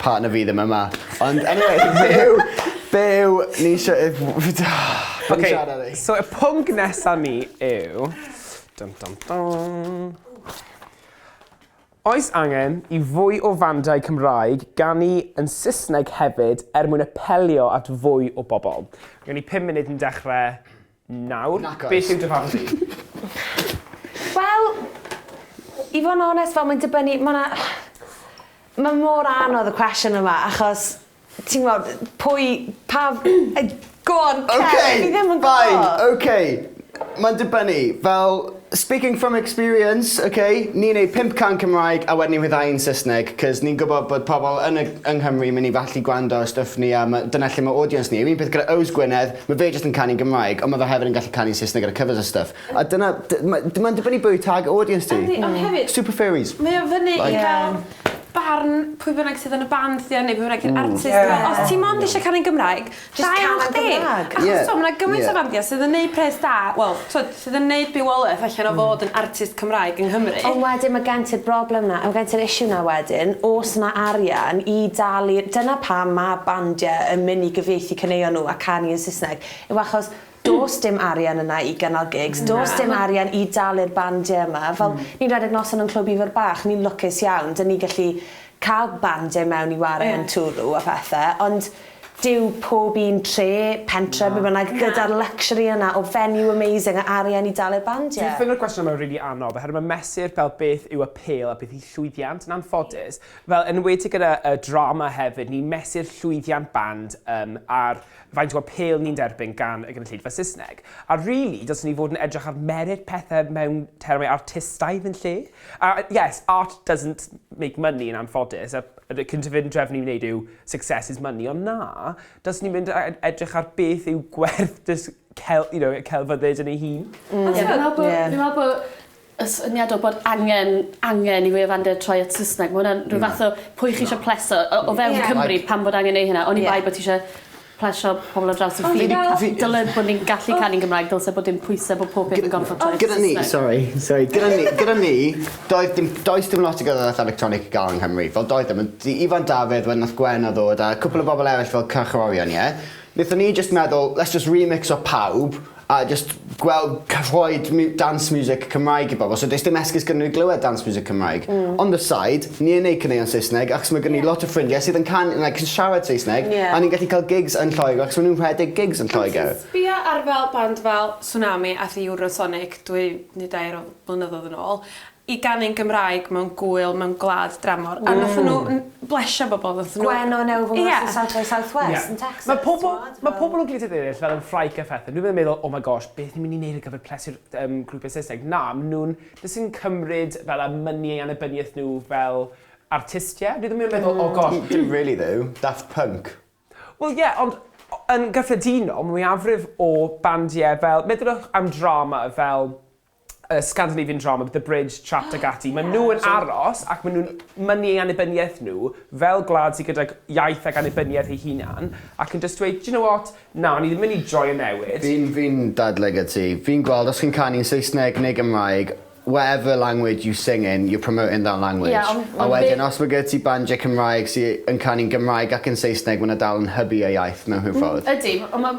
Partner fi ddim yma. Ond anyway be' yw be' yw ni isio yw be' o'n ni'n siarad am 'wn? So y pwnc nesa ni yw dun dun dun Oes angen i fwy o fandau Cymraeg ganu yn Saesneg hefyd er mwyn apelio at fwy o bobl? Gen ni pum munud yn dechre Nawr, Nac oes! beth yw dy farn di? Wel, i fod yn onest, fel mae'n dibynnu, mae 'na... Mae mor anodd y cwestiwn yma, achos, ti'n gwybod, pwy, pa... Go on, Kev! Fi ddim yn gwybod! Fine, ok! Mae'n dibynnu, fel... Speaking from experience, ok, ni'n neud pump can Cymraeg a wedyn ni'n rhyddhau yn Saesneg, 'cos ni'n gwybod bod pobl yn y yng Nghymru mynd i allu gwrando ar stwff ni a ma', dyna lle ma' audience ni. Yr un peth gyda Owes Gwynedd, ma' fe jyst yn canu'n Gymraeg, ond ma' fe hefyd yn gallu canu'n Saesneg gyda covers a stwff. A dyna, d- ma', d- ma'n dibynnu pwy yw target audience ti. Yndi, ond hefyd... Super Furries. Mae o fyny i fel barn pwy bynnag sydd yn y band 'di o neu pwy bynnag yw'r artist. Os ti mond isie canu'n Gymraeg, Jyst cân yn Gymraeg. Da iawn chdi! Achos t'mo' ma' 'na gymaint o fandia sydd yn neud pres da wel t'od sydd yn neud bywoleth allan o fod yn artist Cymraeg yng Nghymru. Ond wedyn ma' gen ti'r broblem 'na a ma' gen ti'r issue 'na wedyn o's 'na arian i dalu dyna pam ma' bandie yn myn' i gyfieithu caneuon n'w a canu yn Sysneg yw achos Does dim arian yna i gynnal gigs, does dim arian i dalu'r bandiau yma. Fel, ni'n rhedeg noson yn Clwb Ifor Bach, ni'n lwcus iawn, 'dyn ni gallu cael bandiau mewn i ware yn Twrw a phethe, ond dyw pob un tre, pentre, be' bynnag, gyda'r luxury yna o venue amazing a arian i dalu'r bandiau. Dwi'n ffeindio'r cwestiwn yma yn rili anodd, oherwydd mae mesur fel beth yw apêl a beth yw llwyddiant yn anffodus, fel yn enwedig gyda drama hefyd, ni'n mesur llwyddiant band ar faint o'r pêl ni'n derbyn gan y gynulleidfa Saesneg, a rili, dylsen ni fod yn edrych ar merit pethau mewn termau artistaidd yn lle. A, yes, art doesn't make money yn anffodus, a y cydymdrefn ni'n wneud yw success is money, ond na, dylsen ni'n mynd edrych ar beth yw gwerth dysg, cel, you know, celfyddyd yn ei hun. Mm. Ond ti'n meddwl bod, yeah. fi'n meddwl bod y syniad o bod angen angen i wefanne troi at Sysneg ma' wnna'n rhyw fath o pwy chi isio pleso o o fewn Cymru pam bod angen neu' hynna oni bai bo' ti isio plesio pobol ar draws y ffin. Fi dyle bo' ni'n gallu canu'n Gymraeg dylse bod dim pwyse bo' pob peth yn gorffod troi at Sysneg. Gyda ni sori sori gyda ni gyda ni doedd dim does dim lot o gerddoriaeth electronig i ga'l yng Nghymru fel doedd dim ond i- Ifan Dafydd wedyn nath Gwenno ddod a cwpwl o bobol eryll fel cyrchorion ie? Nethon ni jyst meddwl let's jyst remixio pawb A jyst gweld ca- rhoid miw- dance music Cymraeg i bobol so does dim esgus gyda n'w i glywed dance music Cymraeg. On the side ni yn neud caneuon Saesneg achos ma' gen i lot o ffrindie sydd yn can- like yn siarad Saesneg a ni'n gallu ca'l gigs yn Lloegr achos ma' nw'n rhedeg gigs yn Lloeger. Ond ti'n sbio ar fel band fel Tsunami ath i Eurosonic dwy ne' dair o flynyddodd yn ôl i ganu'n Gymraeg mewn gŵyl mewn gwlad dramor. Ww. A nathon nhw n- blesio bobl nathon nhw... Gwen o Newfwng Ie. ...West of South Wales South West... Ie. ...yn Texas t'mod fel... Ma' pobol ma' pobol o gwledydd eryll fel yn Ffrainc a phethe nw ddim yn meddwl oh my gosh beth ni myn' i neud ar gyfer plesu'r yym grwpie Saesneg. Na ma' nw'n jyst yn cymryd fel y money ei annibyniaeth nhw fel artistie. Nw ddim yn meddwl... Hmm. ...oh gosh. N- dim rili ddo. Daft Punk. Wel ie ond o- yn gyffredinol ma' mwyafrif o bandie fel meddylwch am drama fel y Scandinavian drama, The Bridge, Trapped ac ati, maen nhw yn aros ac maen nhw'n mynnu ei annibyniaeth nhw fel gwlad sydd gydag iaith ac annibyniaeth ei hunan ac yn just dweud, do you know what, na, ni ddim yn mynd i joio newid. Fi'n, fi'n dadlau gyda ti. Fi'n gweld os chi'n canu'n Saesneg neu Gymraeg, whatever language you sing in, you're promoting that language. Ie, ond ma' fe... A wedyn os mae gyda ti bandiau Cymraeg sydd yn canu'n Gymraeg ac yn Saesneg, mae 'na dal yn hybu y iaith mewn rhyw ffordd. Ydy, ond ma'...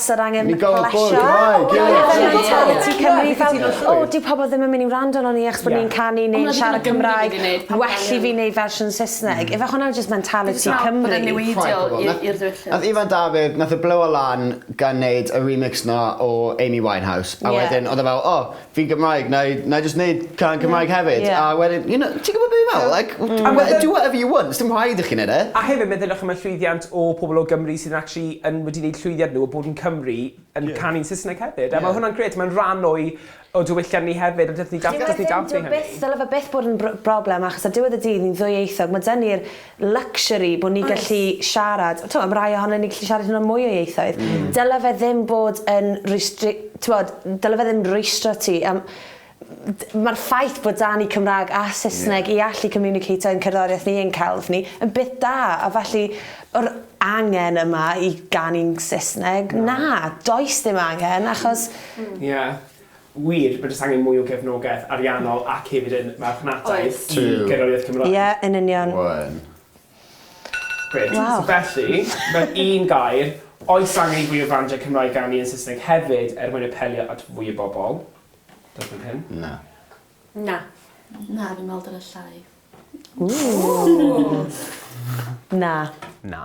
Sir angen plesio. Ni'n gorfod bod yn Gymraeg, ie! Dyna fe mentaliti Cymru fel O, dyw pobl ddim yn mynd i wrando arnon ni achos bod ni'n canu neu'n siarad Cymraeg, well i fi neud fersiwn Saesneg. Ife hwnna yw jyst mentaliti Cymru? Nath Ifan Dafydd, nath e blow lan gan neud y remix 'na o Amy Winehouse a wedyn odd e fel o, fi Gymraeg 'nai 'nai jyst neud cân Cymraeg hefyd. Ie ie. A wedyn you know ti'n gwbod be' fi me'wl like w- a we- do whatever you want sdim rhaid i chi neud e. A hefyd meddyliwch am y llwyddiant o pobol o Gymru sydd yn actually yn wedi neud llwyddiant nhw o bod yn Cymry yn canu'n Sysneg hefyd a ma' hwnna'n grêt ma'n rhan o'i o diwylliant ni hefyd a dylth ni dal- dylth ni dathlu hynny. Dyw e byth dyle fe byth bod yn br- broblem achos ar diwedd y dydd ni'n ddwyieithog ma' 'da ni'r luxury bod ni'n gallu siarad, t'mod ma' rhai ohonon ni'n gallu siarad hyd yn oed mwy o ieithoedd. Dyla fe ddim bod yn restri- t'mod, dyla fe ddim rwystro ti am d- ma'r ffaith bod 'da ni Cymra'g a Saesneg... Ie. ...i allu communicato ein cerddoriaeth ni ein celf ni yn beth da a felly yr angen yma i ganu'n Saesneg na does dim angen achos... Ie. Wir, mae jyst angen mwy o gefnogaeth ariannol ac hefyd yn marchnataeth i gerddoriaeth Cymraeg. Ie, yn union. Waw. Grêt. Waw. So felly, mewn un gair, oes angen i fwy o frandiau Cymraeg ganu yn Saesneg hefyd er mwyn apelio at fwy o bobl? Diolch fan hyn. Na. Na. Na, fi'n meddwl dyle llai. Ww. Ww. Na. Na.